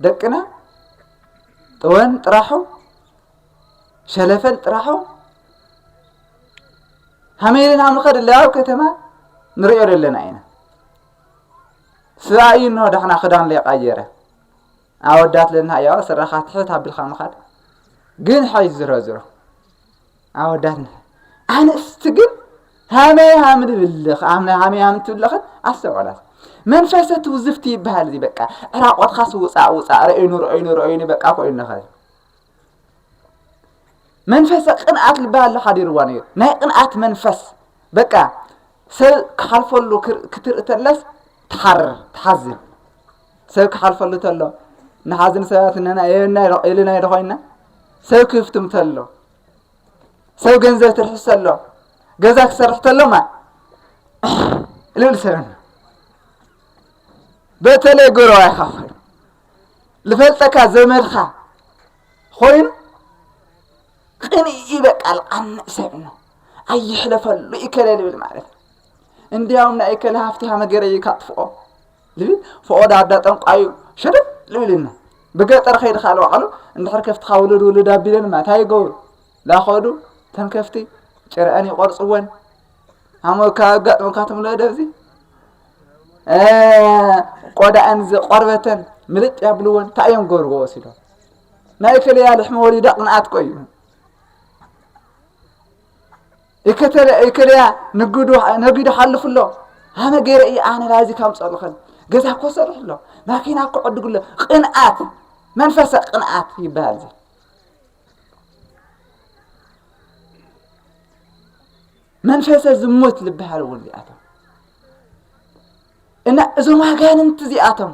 ደቅና ጥወን ጥራሑ ሸለፈል ጥራሑ ሃመይ ኢልና ንኸድ ኣለያ ኣብ ከተማ ንሪኦ ዘለና ኢና ስብኣይ እዩ እንሆ ዳሕና ክዳን ለይቃየረ ኣወዳት ለና እያ ስራኻ ትሕት ኣቢልካ ምኻድ ግን ሓይ ዝሮ ዝሮ ኣወዳት ንሕ ኣንስቲ ግን ሃመይ ሃም ንብልኽ ኣምነ ሃመይ ሃም ትብልኽን ኣስተውዕላት መንፈሰ ትውዝፍቲ ይበሃል እዚ በቃ ዕራቆትካስ ውፃእ ውፃእ ረእይኑ ረእይኑ ረእይኑ በቃ ኮይኑ ኸ መንፈሰ ቅንኣት ልበሃል ኣሎ ሓዲርዋ ነይሩ ናይ ቅንኣት መንፈስ በቃ ሰብ ክሓልፈሉ ክትርኢ ተለስ ትሓርር ትሓዝን ሰብ ክሓልፈሉ ተሎ ንሓዝን ሰባት እነና ኢልና ኢዶ ኮይና ሰብ ክፍትም ተሎ ሰብ ገንዘብ ትርሕስ ተሎ ገዛ ክሰርሕ ተሎማ ልብል ሰብና በተለይ ጎረባ ይካፈሉ ልፈልጠካ ዘመድካ ኮይኑ ቅንኢ ይበቃል ቃንዕ ሰብ ነው ኣይሕለፈሉ ይከለ ልብል ማለት ነው። እንዲያውም ናይ ይከለ ሃፍቲ ሃመገረ እዩ ካጥፍኦ ልብል ፍኦ ዳዳ ጠንቋዩ ሸደብ ልብልና ብገጠር ከይድካ ለዋዕሉ እንድሕር ከፍትካ ውልድ ውልድ ኣቢለን ማለት ኣይገብሩ ላኸዱ ተን ከፍቲ ጭርዐን ይቆርፅወን ሃሞ ካጋጥመካቶም ለደብዚ ቆዳኣን ቆርበተን ምልጥ ያብልወን እንታይ እዮም ገብርዎ ወሲዶም ናይ ከለያ ልሕሚ ወሊዳ ቅንኣት ቆዩ ይከለያ ነጊዱ ሓልፍ ኣሎ ኣነ ገይረ እየ ኣነ ላዚ ካብ ፀልኽን ገዛ ኮሰርሕ ኣሎ ማኪና ክዕድጉ ኣሎ ቅንኣት መንፈሰ ቅንኣት ይበሃል እዚ መንፈሰ ዝሙት ዝበሃሉ እውን እዚኣቶም እና እዞም ኣጋንንቲ እዚኣቶም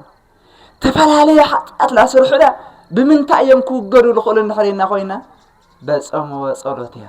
ተፈላለየ ሓጢኣት ላስርሑና ብምንታይ እዮም ክውገዱ ዝኽእሉ እንድሕሪና ኮይና በጾም ወጸሎት እያ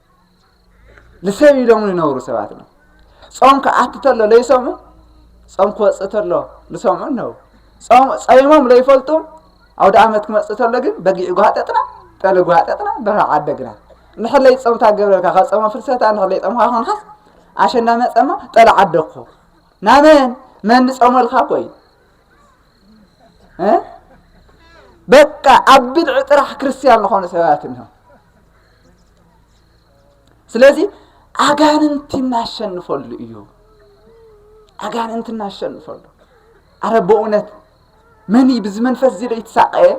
ንሰብ ኢሎም ዝነብሩ ሰባት እዮም ጾም ክኣቱ ተሎ ለይሰሙ ጾም ክወፅእ ተሎ ዝሰምዑ እነው ጾም ጸይሞም ለይፈልጡ ኣውደ ዓመት ክመፅእ ተሎ ግን በጊዕ ጓጠጥና ጠሊ ጓጠጥና ደርሃ ዓደግና ንሕለይ ጾምታ ገብረልካ ካብ ጾመ ፍልሰታ ንሕለይ ጾምካ ኮንካስ ኣሸንዳ መጸማ ጠሊ ዓደግኩ ናመን መን ጾመልካ እኮ እዩ በቃ ኣብ ብድዒ ጥራሕ ክርስትያን ዝኾኑ ሰባት እኒሆ ስለዚ ኣጋንንቲ እናሸንፈሉ እዩ ኣጋንንቲ እናሸንፈሉ ኣረ በእውነት መን እዩ ብዚ መንፈስ እዚ ዶ ይትሳቀየ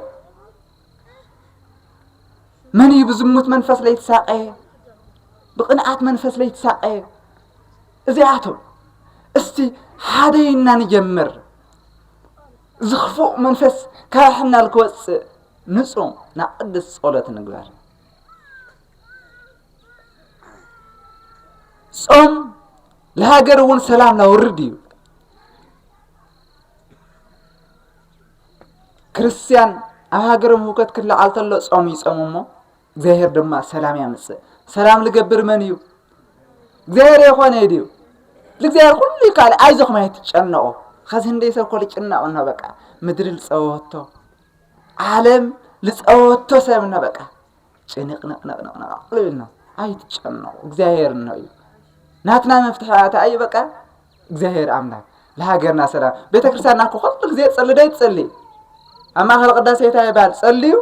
መን እዩ ብዝሙት መንፈስ ለይትሳቀ ብቅንኣት መንፈስ ለይትሳቀ እዚኣቶም እስቲ ሓደ ኢና ንጀምር እዚ ክፉእ መንፈስ ካብ ሕናል ክወፅእ ንፁም ናብ ቅዱስ ፀሎት ንግበር ጾም ለሃገር እውን ሰላም ላውርድ እዩ ክርስትያን ኣብ ሃገሮም ህውከት ክለዓል ተሎ ጾም ይጾሙ እሞ እግዚኣብሔር ድማ ሰላም ያምጽእ። ሰላም ልገብር መን እዩ? እግዚኣብሔር የኾነ እዩ ድዩ? ልእግዚኣብሔር ኩሉ ይከኣል ኣይዞኹም ኣይትጨነቑ። ኸዚ ህንደይ ሰብ እኮ ልጭነቕ እኖ በቃ ምድሪ ልጸወቶ ዓለም ልጸወቶ ሰብ እኖ በቃ ጭንቕንቕንቕንቕንቕ ልብል ነው። ኣይትጨነቑ እግዚኣብሔር እኖ እዩ። ናትና መፍትሒ ኣታ እዩ በቃ እግዚኣብሔር ኣምላክ ለሃገርና ሰላም ቤተ ክርስቲያንና እኮ ኩሉ ጊዜ ጸሊ ዶ ይጸሊ ኣብ ማእኸል ቅዳሴ እንታይ ይባል ጸልዩ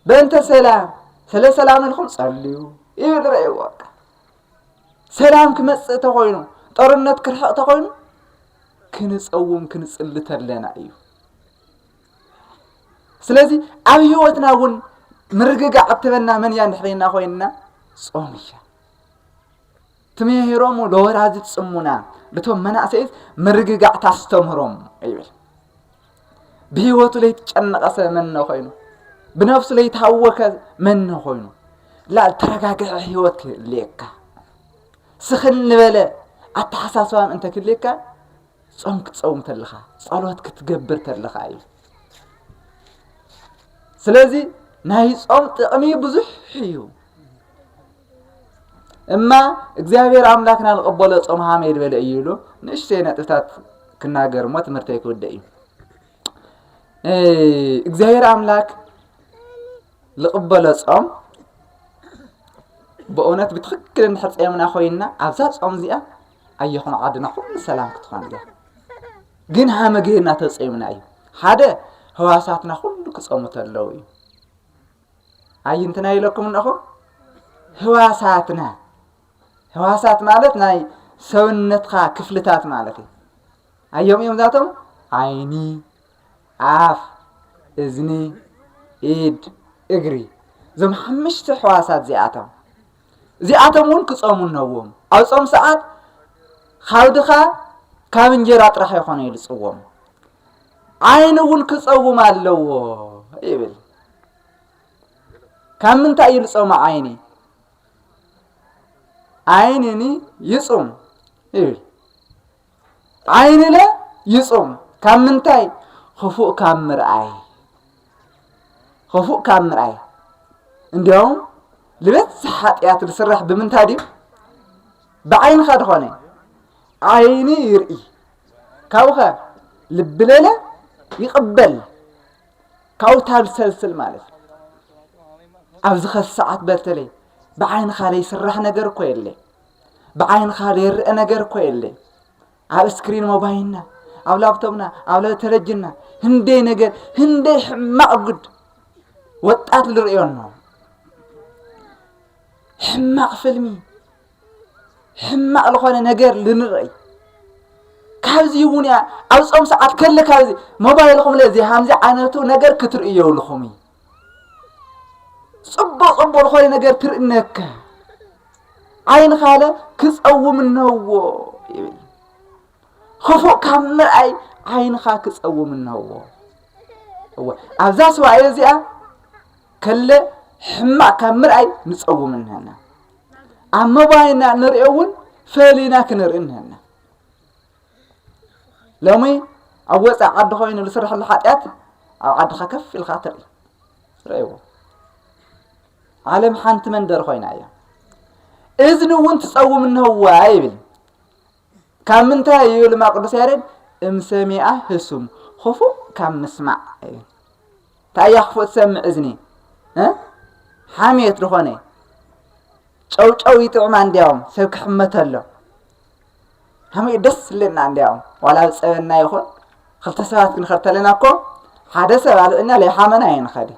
በእንተ ሰላም ስለ ሰላም ኢልኩም ጸልዩ ይብል ረእይዎ በቃ ሰላም ክመጽእ ተኾይኑ ጦርነት ክርሕቕ ተኾይኑ ክንጸውም ክንጽሊ ተለና እዩ ስለዚ ኣብ ህይወትና እውን ምርግጋዕ እትበና መን እያ ንሕልና ኮይንና ጾም እያ ትምህሮሙ ለወላዲት ጽሙና ልቶም መናእሰይት ምርግጋዕ ታስተምህሮም ይብል ብህይወቱ ለይትጨነቐሰ መነ ኮይኑ ብነፍሱ ለይታወከ መነ ኮይኑ ላ ተረጋግዐ ህይወት ክህልየካ ስኽን ንበለ ኣተሓሳስባን እንተ ክልየካ ጾም ክትጸውም ተለኻ ጸሎት ክትገብር ተለኻ እዩ ስለዚ ናይ ጾም ጥቕሚ ብዙሕ እዩ እማ እግዚኣብሔር ኣምላክና ንቐበሎ ጾም ሃመ ይድበለ እዩ ኢሉ ንእሽተይ ነጥብታት ክናገር እሞ ትምህርተይ ክውደ እዩ እግዚኣብሔር ኣምላክ ዝቕበሎ ጾም ብእውነት ብትክክል እንድሕር ጸምና ኮይንና ኣብዛ ጾም እዚኣ ኣየኹም ዓድና ኩሉ ሰላም ክትኾን እያ ግን ሃመ ገይርና ተጸምና እዩ ሓደ ህዋሳትና ኩሉ ክጸሙ ተለው እዩ ኣይንትና ኢለኩም እነኹ ህዋሳትና ህዋሳት ማለት ናይ ሰውነትካ ክፍልታት ማለት እዩ ኣዮም እዮም ዛቶም ዓይኒ ኣፍ እዝኒ ኢድ እግሪ እዞም ሓምሽተ ሕዋሳት እዚኣቶም እዚኣቶም እውን ክጾሙ ነዎም። ኣብ ጾም ሰዓት ካብ ድኻ ካብ እንጀራ ጥራሕ ይኾነ ኢሉ ጽዎም። ዓይኒ እውን ክጸውም ኣለዎ ይብል። ካብ ምንታይ እዩ ልጾመ ዓይኒ? ዓይንኒ ይጹም ይብል። ዓይንነ ይጹም ካብ ምንታይ ኽፉእ ካብ ምርኣይ ኽፉእ ካብ ምርኣይ እንዲያውም ልበዝሕ ሓጢኣት ዝስራሕ ብምንታይ ድዩ ብዓይንኻ ድኾነ ዓይኒ ይርኢ ካብኸ ልብለለ ይቕበል ካብኡ ታብሰልስል ማለት ኣብዚ ኸሰዓት በተለይ ብዓይንኻ ዘይስራሕ ነገር እኮ የለ ብዓይንኻ ዘይረአ ነገር እኮ የለይ ኣብ እስክሪን ሞባይልና ኣብ ላብቶብና ኣብ ተለጅና ህንደይ ነገር ህንደይ ሕማቕ ጉድ ወጣት ዝርእዮ ኣሎ ሕማቕ ፍልሚ ሕማቕ ዝኾነ ነገር ልንርእይ ካብዚ እውን እያ ኣብ ፆም ሰዓት ከለካ ሞባይልኹም ለዚ ሃምዚ ዓይነቱ ነገር ክትርእየውልኹም እዩ ጽቡቕ ጽቡቕ ዝኾነ ነገር ትርኢ እነከ ዓይንኻለ ክጸውም እነህዎ ይብል ክፉእ ካብ ምርኣይ ዓይንኻ ክጸውም እነህዎ እወ ኣብዛ ስዋኤ እዚኣ ከለ ሕማቕ ካብ ምርኣይ ንጸውም እነሀና ኣብ መባይና ንሪኦ እውን ፈሊና ክንርኢ እነሀና ሎሚ ኣብ ወፃእ ዓዲ ኮይኑ ዝስራሕ ዘሎ ሓጢኣት ኣብ ዓድኻ ከፍ ኢልካ ትርኢ ርእይዎ ዓለም ሓንቲ መንደር ኮይና እያ እዝኒ እውን ትፀውም እንህዋ ይብል ካብ ምንታይ እዩ ልማ ቅዱስ ያሬድ እምሰሚኣ ህሱም ክፉእ ካብ ምስማዕ እዩ እንታይ እያ ክፉእ ትሰምዕ እዝኒ ሓምየት ዝኾነ ጨውጨው ይጥዕማ እንዲያውም ሰብ ክሕመተሎ ከመይ ደስ ዝብለና እንዲያውም ዋላ ዝፀበና ይኹን ክልተ ሰባት ክንኸድ ተለና እኮ ሓደ ሰብ ኣልዕልና ለይሓመና ይንኸድ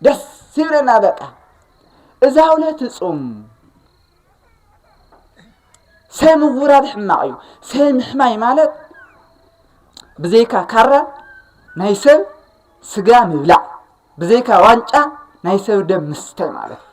ደስ ይብለና በቃ እዛ ውለት እፁም ሰብ ምውራድ ሕማቕ እዩ ሰብ ምሕማይ ማለት ብዘይካ ካራ ናይ ሰብ ስጋ ምብላዕ ብዘይካ ዋንጫ ናይ ሰብ ደም ምስተይ ማለት እዩ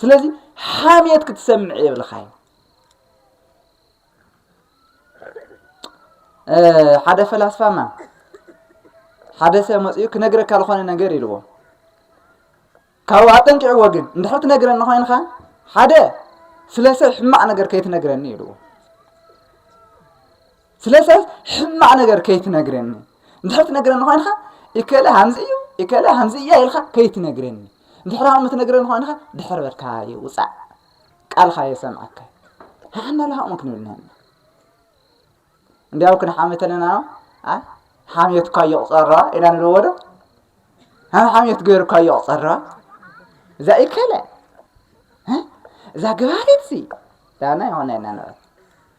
ስለዚ ሓሜት ክትሰምዕ የብልኻይ ሓደ ፈላስፋማ ሓደ ሰብ መፅኡ ክነግረካ ዝኾነ ነገር ኢልዎ ካብኡ ኣጠንቂዕዎ ግን እንድሕር ትነግረኒ ኮይንካ ሓደ ስለ ሰብ ሕማቕ ነገር ከይትነግረኒ ኢልዎ ስለዚ ሕማቅ ነገር ከይትነግረኒ እንድሕር ትነግረኒ ኮይንካ እከለ ሃምዚ እዩ እከለ ሃምዚ እያ ኢልካ ከይትነግረኒ እንድሕር ሃም ትነግረኒ ኮይንካ ድሕር በልካ ይውፃእ ቃልካ የሰምዐካ ንሓና ለሃቅሙ ክንብልና ኢና እንዲያው ክንሓምት ኣለና ኣ ሓምየት እኳ እየቁፀረዋ ኢና ንብለዎ ዶ ሃም ሓምየት ገይሩ እኳ እየቁፀረዋ እዛ እከለ እዛ ግባሪት ሲ ዳና ይሆነ ኢና ንብል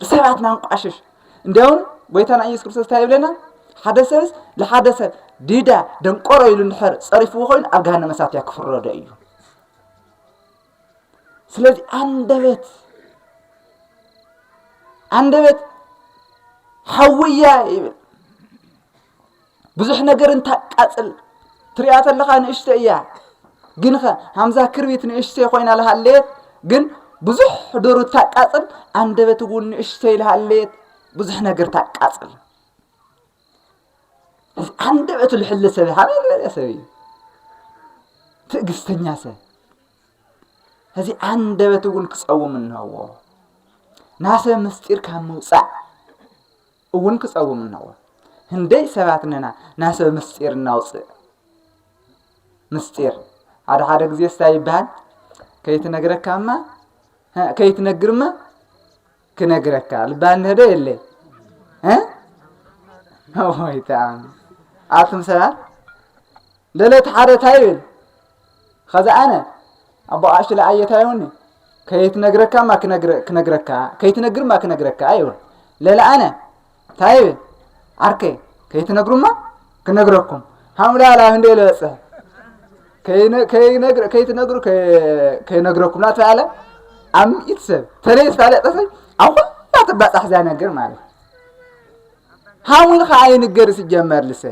ሰባት ማንቋሽሽ እንዲያውም ጎይታና ኢየሱስ ክርስቶስ እንታይ ይብለና ሓደ ሰብስ ንሓደ ሰብ ዲዳ ደንቆሮ ኢሉ እንድሕር ጸሪፍዎ ኮይኑ ኣብ ገሃነመ እሳት እያ ክፍረዶ እዩ ስለዚ ኣንደበት ኣንደበት ሓውያ ይብል ብዙሕ ነገር እንታቃጽል ትሪኣ ተለኻ ንእሽተ እያ ግን ኸ ሃምዛ ክርቢት ንእሽተ ኮይና ልሃለየት ግን ብዙሕ ዶሩ ታቃጽል ኣንደበት እውን ንእሽተ ይልሃለየት ብዙሕ ነገር ታቃጽል እዚ ኣንደበቱ ልሕሊ ሰብ ሃበይ ዝበለ ሰብ እዩ ትዕግስተኛ ሰብ እዚ ኣንደበት እውን ክጸውም እንሀዎ ናሰብ ምስጢር ካብ ምውፃእ እውን ክጸውም እነዎ ህንደይ ሰባት ነና ናሰብ ምስጢር እናውፅእ ምስጢር ሓደ ሓደ ግዜ ስታይ ይበሃል ከይትነግረካማ ከይትነግርማ ክነግረካ ልበሃል ንህደ የለ ወይ ተኣም ኣቱም ሰባት ለለት ሓደ ታይ ይብል ኸዚ ኣነ ኣቦ ኣሽለ ኣየታየውኒ ከይትነግረካ ማ ክነግረካ ከይትነግር ማ ክነግረካ ይብል ለለ ኣነ እንታይ ይብል ዓርከይ ከይትነግሩማ ክነግረኩም ሓምላ ላብ እንደ ለበፅሕ ከይትነግሩ ከይነግረኩም ናት ኣለ ኣብ ምኢት ሰብ ተለይ ዝፋለጠሰ ኣብ ኩላ ትባፃሕ እዛ ነገር ማለት ሓሙን ከዓ ይንገር ስጀመር ልሰ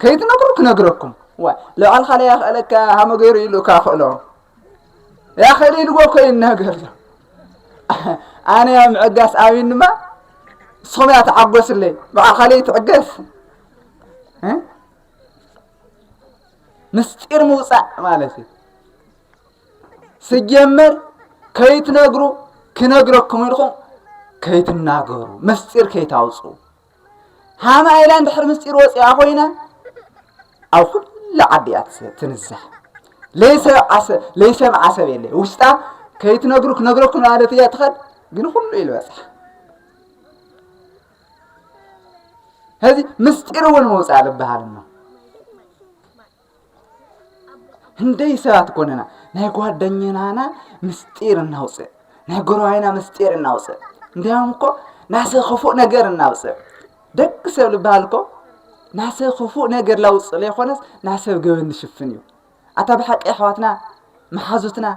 ከይትነግሩ ክነግረኩም ዋይ ልባዕልካ ለያ ክእለካ ሃመ ገይሩ ኢሉ እካ ክእሎ ያ ክእል ኢልዎ እኮ ይናገር ዘሎ ኣነ ያ ምዕጋስ ኣብን ድማ ንስኹም እያ ተዓጎስለይ ባዕልካ ለይ ትዕገስ ምስጢር ምውፃእ ማለት እዩ ስጀመር ከይትነግሩ ክነግረኩም ኢልኩም ከይትናገሩ ምስጢር ከይታውፅኡ ሃማ ኢላ እንድሕር ምስጢር ወፂኣ ኮይና ኣብ ኩሉ ዓዲ እያ ትንዛሕ ለይሰምዓ ሰብ የለ ውሽጣ ከይትነግሩ ክነግረኩ ማለት እያ ትኸድ ግን ኩሉ ኢሉ በፅሓ ሕዚ ምስጢር እውን መውፃእ ዝበሃል እሞ ህንደይ ሰባት ኮንና ናይ ጓደኛና ምስጢር እናውፅእ ናይ ጎረባይና ምስጢር እናውፅእ እንዲያውም እኮ ናሰ ክፉእ ነገር እናውፅእ ደቂ ሰብ ዝበሃል እኮ ናሰ ክፉእ ነገር ላውፅእ ለይኮነስ ናሰብ ገበን ዝሽፍን እዩ ኣታ ብሓቂ ኣሕዋትና መሓዙትና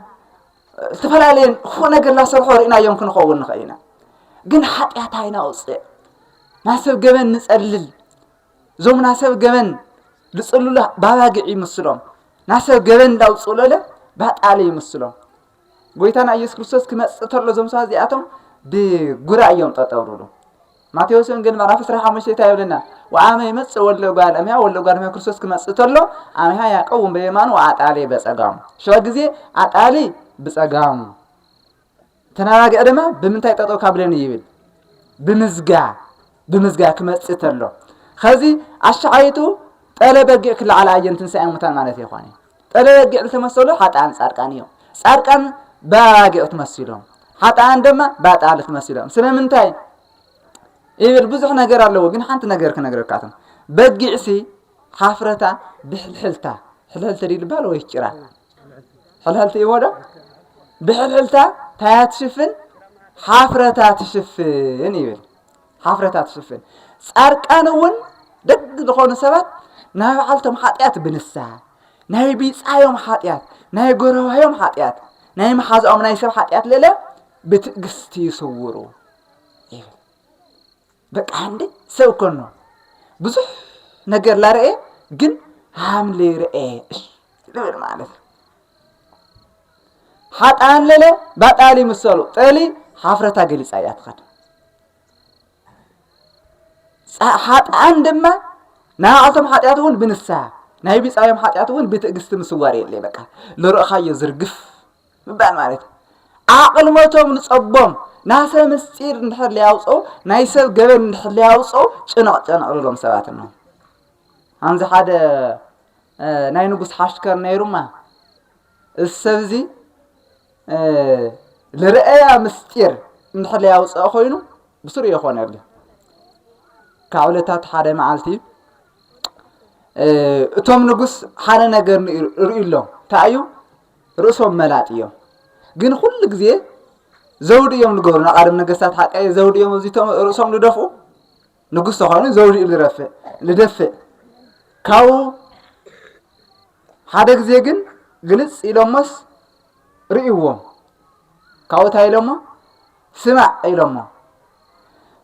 ዝተፈላለየን ክፉእ ነገር ላሰርሖ ርኢናዮም ክንኸውን ንኽእል ኢና ግን ሓጢኣት ኣይናውፅእ ናሰብ ገበን ንፀልል እዞም ናሰብ ገበን ዝጽልሉ ባባግዕ ይምስሎም ናሰብ ገበን እንዳውጽእሎለ ባጣለ ይምስሎም ጎይታና ኢየሱስ ክርስቶስ ክመጽእ ተሎ እዞም ሰባት እዚኣቶም ብጉራ እዮም ጠጠው ዝብሉ ማቴዎስ ወንጌል ምዕራፍ 15 እንታይ ይብለና ወአመ ይመጽእ ወልደ እጓለ እመሕያ ወልደ እጓለ እመሕያ ክርስቶስ ክመጽእ ተሎ አመሕያ ያቀውም በየማኑ ወአጣሌ በጸጋሙ ሸዋ ግዜ አጣሊ ብጸጋሙ ተናጋግዐ ደማ ብምንታይ ጠጠው ካብለን ይብል ብምዝጋ ብምዝጋ ክመጽእ ተሎ ከዚ ኣሻዓይቱ ጠለ በጊዕ ክለዓል ኣየን ትንሳኤ ሙታን ማለት ይኾነ ጠለ በጊዕ ዝተመሰሉ ሓጣን ጻድቃን እዮም ጻድቃን በባጊዕ ትመሲሎም ሓጣን ደማ ባጣል ትመሲሎም ስለምንታይ ይብል ብዙሕ ነገር ኣለዎ ግን ሓንቲ ነገር ክነግረካቶም በጊዕሲ ሓፍረታ ብሕልሕልታ ሕልሕልተ ድዩ ልባል ወይ ጭራ ሕልሕልቲ እዎ ዶ ብሕልሕልታ ታያ ትሽፍን ሓፍረታ ትሽፍን ይብል ሓፍረታ ትሽፍን ጻርቃን እውን ደግ ዝኾኑ ሰባት ናይ በዓልቶም ሓጢኣት ብንስሓ ናይ ቢጻዮም ሓጢኣት ናይ ጎረባዮም ሓጢኣት ናይ መሓዛኦም ናይ ሰብ ሓጢኣት ልእለ ብትእግስቲ ይስውሩ ይብል በቃ ሃምሌ ሰብ ኮኖ ብዙሕ ነገር ላረኤ ግን ሃምሌ ረኤ ልብል ማለት እዩ ሓጣን ለለ ባጣሊ ምሰሉ ጠሊ ሓፍረታ ገሊፃ እያ ትኸድ ሓጣን ድማ ንዓቶም ሓጢኣት እውን ብንስሃ ናይ ቢፃዮም ሓጢኣት እውን ብትእግስቲ ምስዋር የለ በቃ ልርእኻዮ ዝርግፍ ምባል ማለት እዩ ኣቕልሞቶም ንጸቦም ናሰ ምስጢር እንድሕር ለያውፅኡ ናይ ሰብ ገበን እንድሕር ለያውፅኡ ጭንቕ ጭንቕ ልሎም ሰባት እኖ ኣምዚ ሓደ ናይ ንጉስ ሓሽከር ነይሩማ እዚ ሰብ እዚ ልርአያ ምስጢር እንድሕር ለያውፅኦ ኮይኑ ብስሩ የኾነሉ ካብ ዕለታት ሓደ መዓልቲ እቶም ንጉስ ሓደ ነገር ርእዩ ኣሎ እንታይ እዩ ርእሶም መላጥ እዮም ግን ኩሉ ግዜ ዘውዲ እዮም ዝገብሩ ንቃደም ነገስታት ሓቀየ ዘውዲ እዮም ኣብዚቶም ርእሶም ዝደፍኡ ንጉስ ተኾይኑ ዘውዲ እዩ ዝረፍእ ዝደፍእ ካብኡ ሓደ ግዜ ግን ግልፅ ኢሎሞስ ርእይዎም ካብኡ እንታይ ኢሎሞ ስማዕ ኢሎሞ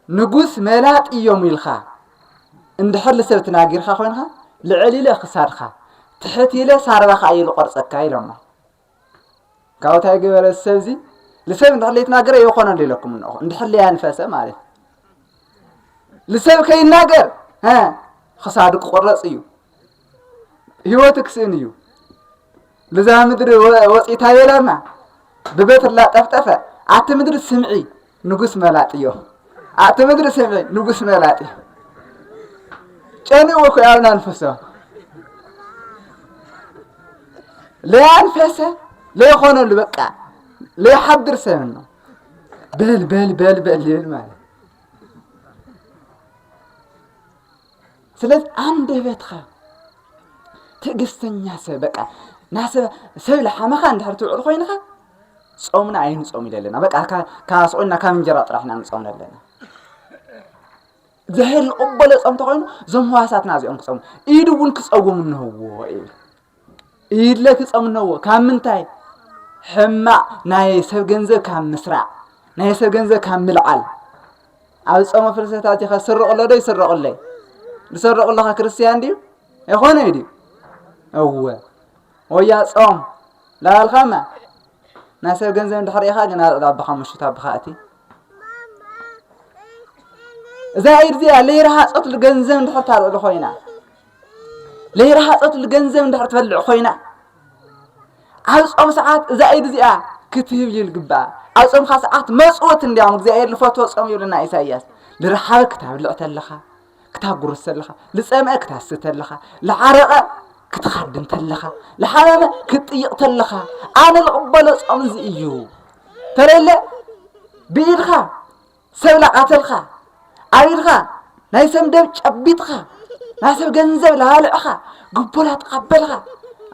ንጉስ መላጥ ኢዮም ኢልካ እንድሕር ልሰብ ትናጊርካ ኮይንካ ልዕል ኢለ ክሳድካ ትሕት ኢለ ሳርባካ ኢየ ልቆርጸካ ኢሎሞ ካብኡ ታይ ገበረ ሰብዚ ልሰብ እንድሕር ለይትናገረ የኮነሉ ኢለኩም እንኹ እንድሕር ለያንፈሰ ማለት ልሰብ ከይናገር ክሳዱ ክቁረጽ እዩ ህይወቱ ክስእን እዩ ብዛ ምድሪ ወፂእታ የላና ብበትርላ ጠፍጠፈ ኣቲ ምድሪ ስምዒ ንጉስ መላጥ እዮ ኣቲ ምድሪ ስምዒ ንጉስ መላጥ እዩ ጨኒኡ እኮ ኣብና ንፈሶ ለያንፈሰ ለይኾነሉ በቃ ለይሓድር ሰብ ነው በል በል በል በል ይብል ማለት ስለዚ ኣንደበትካ ትዕግስተኛ ሰብ በቃ ናሰብ ሰብ ልሓመኻ እንድሕር ትውዕል ኮይንኻ ጾምና ኣይንጾም ኢለ ኣለና በቃ ካብ ስቑልና ካብ እንጀራ ጥራሕ ኢና ንጾም ኣለና እግዚኣብሔር ይቕበሎ ጾም ተኾይኑ እዞም ህዋሳትና እዚኦም ክጸሙ ኢድ እውን ክጸውም እንህዎ እዩ ኢድለ ትጸምነዎ ካብ ምንታይ ሕማቕ ናይ ሰብ ገንዘብ ካብ ምስራዕ ናይ ሰብ ገንዘብ ካብ ምልዓል ኣብ ጾመ ፍልሰታ እዚኸ ስርቕሎ ዶ ይስረቕለይ ዝሰርቕለኸ ክርስትያን ድዩ ኣይኮነ ድዩ እወ ወያ ጾም ላባልካማ ናይ ሰብ ገንዘብ እንድሕር ኢኻ ግን ኣልዕል ኣባኻ ምሽት ኣባኻ እቲ እዛ ኢድ እዚኣ ለይረሃጸት ገንዘብ እንድሕር ታልዕሉ ኮይና ለይረሃፀትሉ ገንዘብ እንድሕር ትበልዕ ኮይና ኣብ ጾም ሰዓት እዛ ኢድ እዚኣ ክትህብ እዩ ልግባኣ ኣብ ጾምካ ሰዓት መፅወት እንዲያውም እግዚኣብሔር ልፈትዎ ጾም ይብለና ኢሳይያስ ልረሓበ ክታብልዕ ተለኻ ክታጉርስ ተለኻ ልፀምአ ክታስተ ተለኻ ልዓረቐ ክትኻድም ተለኻ ልሓመመ ክትጥይቕ ተለኻ ኣነ ልቕበሎ ጾም እዚ እዩ ተለለ ብኢድኻ ሰብ ላቃተልካ ኣቢልካ ናይ ሰብ ንደብ ጨቢጥካ ናይ ሰብ ገንዘብ ላባልዕካ ግቦ ላተቀበልካ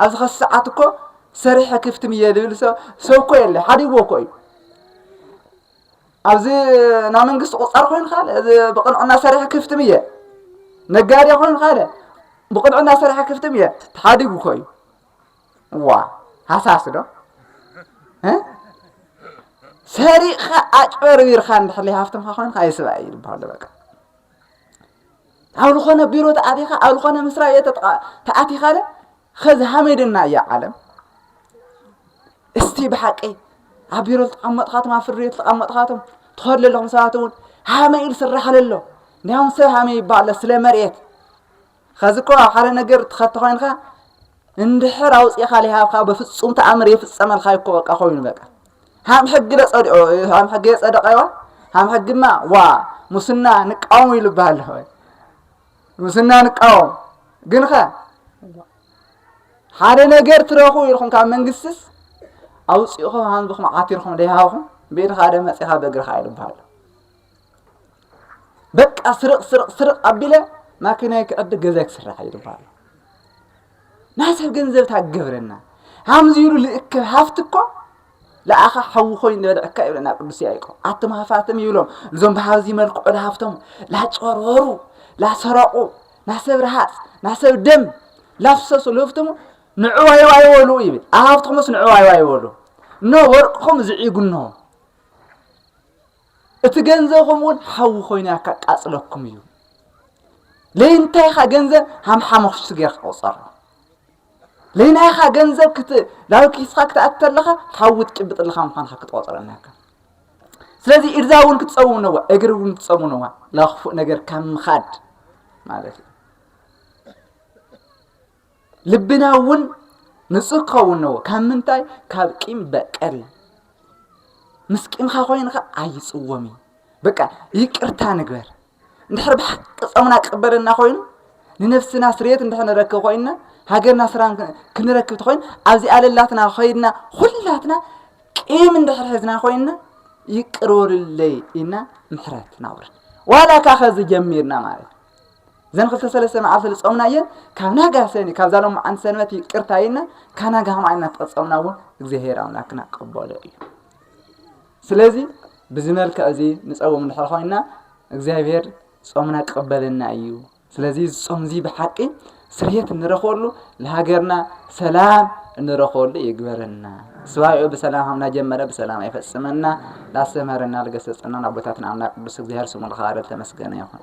ኣብዚ ከስ ሰዓት እኮ ሰሪሐ ክፍትም እየ ዝብል ሰው ሰው እኮ የለ ሓዲግዎ እኮ እዩ ኣብዚ ናይ መንግስቲ ቁፃር ኮይንካ ብቅንዕና ሰሪሐ ክፍትም እየ ነጋዴ ኮይንካ ብቅንዕና ሰሪሐ ክፍትም እየ ተሓዲጉ እኮ እዩ ዋ ሃሳስ ዶ ሰሪቕኻ ኣጭበርቢርካ እንድሕር ሃፍትምካ ኮይንካ ኣይስባእ እዩ ዝበሃሉ በቃ ኣብ ዝኾነ ቢሮ ተኣቲኻ ኣብ ዝኾነ መስሪያ ቤት ተኣቲኻ ለ ኸዚ ሃመይ ድና እያ ዓለም እስቲ ብሓቂ ኣብ ቢሮ ዝተቐመጥኻቶም ኣብ ፍርድ ቤት ዝተቐመጥኻቶም ትኸዱ ኣለኹም ሰባት እውን ሃመይ ኢሉ ስራሕ ኣለሎ እንዲያውም ሰብ ሃመይ ይበሃለ ስለ መሬት ኸዚ እኮ ኣብ ሓደ ነገር ትኸቲ ኮይንካ እንድሕር ኣውፂእኻ ሊሃብካ በፍፁም ተኣምር የፍፀመልካ እኮ በቃ ኮይኑ በቃ ሃም ሕጊ ለፀዲኦ ሃም ሕጊ የፀደቀዋ ሃም ሕግማ ዋ ሙስና ንቃወሙ ኢሉ ይበሃል ኣለኹ ሙስና ንቃወም ግን ኸ ሓደ ነገር ትረኹ ኢልኹም ካብ መንግስትስ ኣውፂእኹም ሃንብኹም ዓቲርኹም ደይሃብኹም ብኢድኻ ደ መፂኻ በእግርኻ ኢሉ ይበሃል በቃ ስርቕ ስርቕ ስርቕ ኣቢለ ማኪናይ ክዕድግ ገዛይ ክስራሕ እዩ ድበሃሉ ናይ ሰብ ገንዘብ ታገብረና ሃምዚ ኢሉ ልእክብ ሃፍቲ እኮ ለኣኻ ሓዊ ኮይኑ ዝበልዐካ ይብለና ቅዱስ ያዕቆብ ኣቱም ሃፋትም ይብሎም እዞም ብሃብዚ መልክዑ ለሃፍቶም ላጨርበሩ ላሰረቑ ናሰብ ረሃፅ ናሰብ ደም ላፍሰሱ ልህፍትሙ ንዕዋይዋ ይበሉ ይብል ኣብ ሃፍትኹምስ ንዕዋይዋ ይበሉ እኖ ወርቅኹም ዝዒጉኖ እቲ ገንዘብኹም እውን ሓዊ ኮይኑ እያ ካቃፅለኩም እዩ ለይንታይ ኢኻ ገንዘብ ሃም ሓሞኽሽቲ ጌርካ ቁፀሮ ለይናይ ኢኻ ገንዘብ ክት ናብ ኪስኻ ክትኣት ተለኻ ሓዊ ትጭብጥ ኣለኻ ምዃንካ ክትቆፅሮ ኣለካ ስለዚ ኢድዛ እውን ክትፀውም ነዋ እግሪ እውን ክትፀሙ ነዋ ናብ ክፉእ ነገር ካብ ምኻድ ማለት እዩ ልብና እውን ንጹህ ክኸውን ነዎ ካብ ምንታይ ካብ ቂም በቀል ምስ ቂምካ ኮይኑ ከ ኣይጽወም እዩ በቃ ይቅርታ ንግበር እንድሕር ብሓቂ ጾምና ክቕበለና ኮይኑ ንነፍስና ስርየት እንድሕር ንረክብ ኮይንና ሃገርና ስራን ክንረክብ ተኮይኑ ኣብዚ ኣለላትና ኮይንና ኩላትና ቂም እንድሕር ሕዝና ኮይንና ይቅር በሉለይ ኢና ምሕረት ናውረድ ዋላ ካኸዚ ጀሚርና ማለት ዘን ክልተ ሰለስተ መዓልቲ ዝጾምናየን ካብ ናጋ ሰኒ ካብዛ ሎማዓንቲ ሰንበት ይቅርታ ኢልና ካብ ናጋ ከምኣ ኢልና ተቐጸምና እውን እግዚኣብሔር ኣምላክና ቀበሎ እዩ ስለዚ ብዚ መልክዕ እዚ ንፀውም እንድሕር ኮይና እግዚኣብሔር ጾምና ክቕበለና እዩ ስለዚ ዝጾም እዚ ብሓቂ ስርየት እንረኽበሉ ንሃገርና ሰላም እንረኽበሉ ይግበረና ስባኤኡ ብሰላም ሃምና ጀመረ ብሰላም ኣይፈጽመና ላስተምህረና ልገሰጸናን ኣቦታትና ኣምላክ ቅዱስ እግዚኣብሔር ስሙ ልኸባረ ተመስገነ ይኹን